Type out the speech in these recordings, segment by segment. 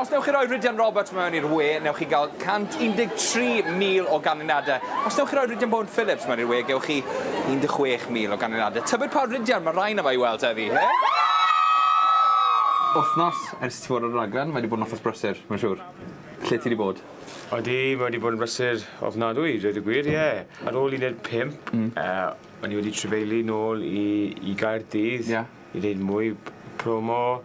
Os newch chi roi Rhydian Roberts mewn i'r we, newch chi gael 113,000 o ganlyniadau. Os newch chi roi Rhydian Bowen Phillips mewn i'r we, gewch chi 16,000 o ganlyniadau. Tybed pa Rhydian mae rhain yma i weld heddi, he? Wythnos ers ti fod ar y raglen, mae wedi bod yn wythnos brysur, mae'n siŵr. Lle ti wedi bod? Odi, mae wedi bod yn brysur ofnadwy, dweud y gwir, ie. Ar ôl uned pump, o'n i wedi trefeili nôl i Gaerdydd i wneud mwy promo.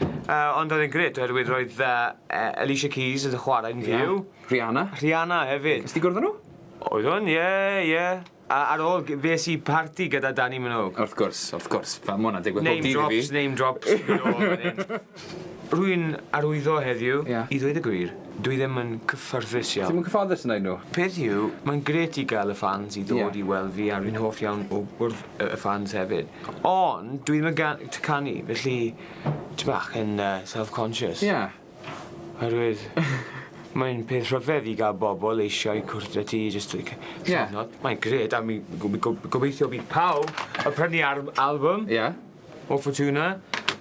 Yy ond oedd e'n grêt oherwydd roedd yy yy Alicia Keys yn chwarae'n fyw. Rihanna. Rihanna hefyd. Nes ti gwrdd â nhw? Oeddwn, ie, ie. A ar ôl g- fes i parti gyda Dani Minogue. Wrth gwrs, wrth gwrs. Fel ma' wnna'n digwydd bob dydd i fi. Name drops, name drops galore fan 'yn. Rwy'n arwyddo heddiw... Ie. ...i ddweud y gwir, dwi ddim yn cyffyrddus iawn. Ti'm yn cyfforddus yn neud nhw? Peth yw, mae'n grêt i ga'l y ffans i ddod... Ie. ...i weld fi a rwy'n hoff iawn o wrdd y ffans hefyd. Ond, dwi ddim yn canu, felly, ti bach yn self-conscious. Ie. Oherwydd, mae'n peth rhyfedd i gael bobl eisiau cwrdd â ti jyst i cyfnod. Ie. Mae'n gred, a mi gobeithio bydd pawb yn prynu albwm o Fortuna.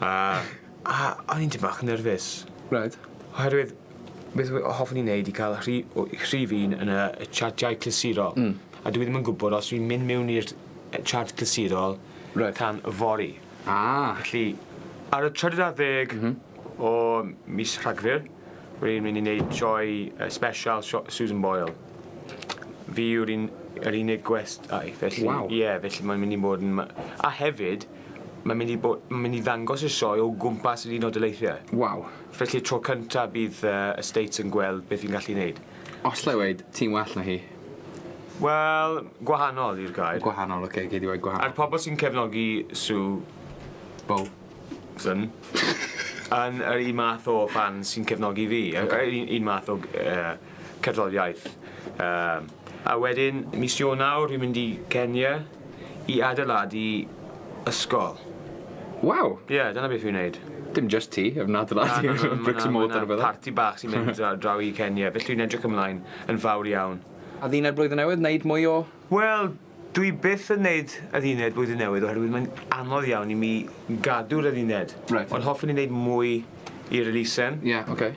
A a o'n i'n tym bach yn nerfus. Reit. Oherwydd beth we- o hoffwn i neud i ca'l rhi- o i rhif un yn y y chartiau clasurol. Hmm. A dwi ddim yn gwbod os dwi'n mynd miwn i'r yy chart clasurol... Reit. ...tan yfory. Ah. Felly ar y trydydd ar ddeg... M-hm. ...o mis Rhagfyr rwy'n mynd i neud sioe yy sbesial sio- Susan Boyle. Fi yw'r un yr unig gwest ai felly... Waw. ...ie felly mae'n mynd i bod yn ma- a hefyd Mae'n mynd i, mae'n mynd i ddangos y sioe o gwmpas yr Unol Daleithiau. Waw. Felly tro cyntaf bydd uh, y States yn gweld beth fi'n gallu neud. Os lle weid, ti'n well na hi? Wel, gwahanol i'r gair. Gwahanol, oce, okay, gei di weid gwahanol. A'r pobl sy'n cefnogi Sue... Bo. ...syn. yn yr un math o fan sy'n cefnogi fi. Okay. Yr un, un math o uh, cerddoriaeth. Uh, a wedyn, mis Ionawr, fi'n mynd i Kenya. i adeiladu ysgol. Waw! Ie, dyna beth fi'n neud. Dim jyst ti, ef yn adeiladu Na, na, na, bricks and mortar a ma' 'na bethe. parti bach sy'n mynd dra- draw i Kenya, felly dwi'n edrych ymlaen yn fawr iawn. A ddina'r blwyddyn newydd, neud mwy o... Wel, dwi byth yn neud adduned blwyddyn newydd oherwydd mae'n anodd iawn i mi gadw'r adduned. Reit. Ond hoffwn i neud mwy i'r elusen. Ie, oce.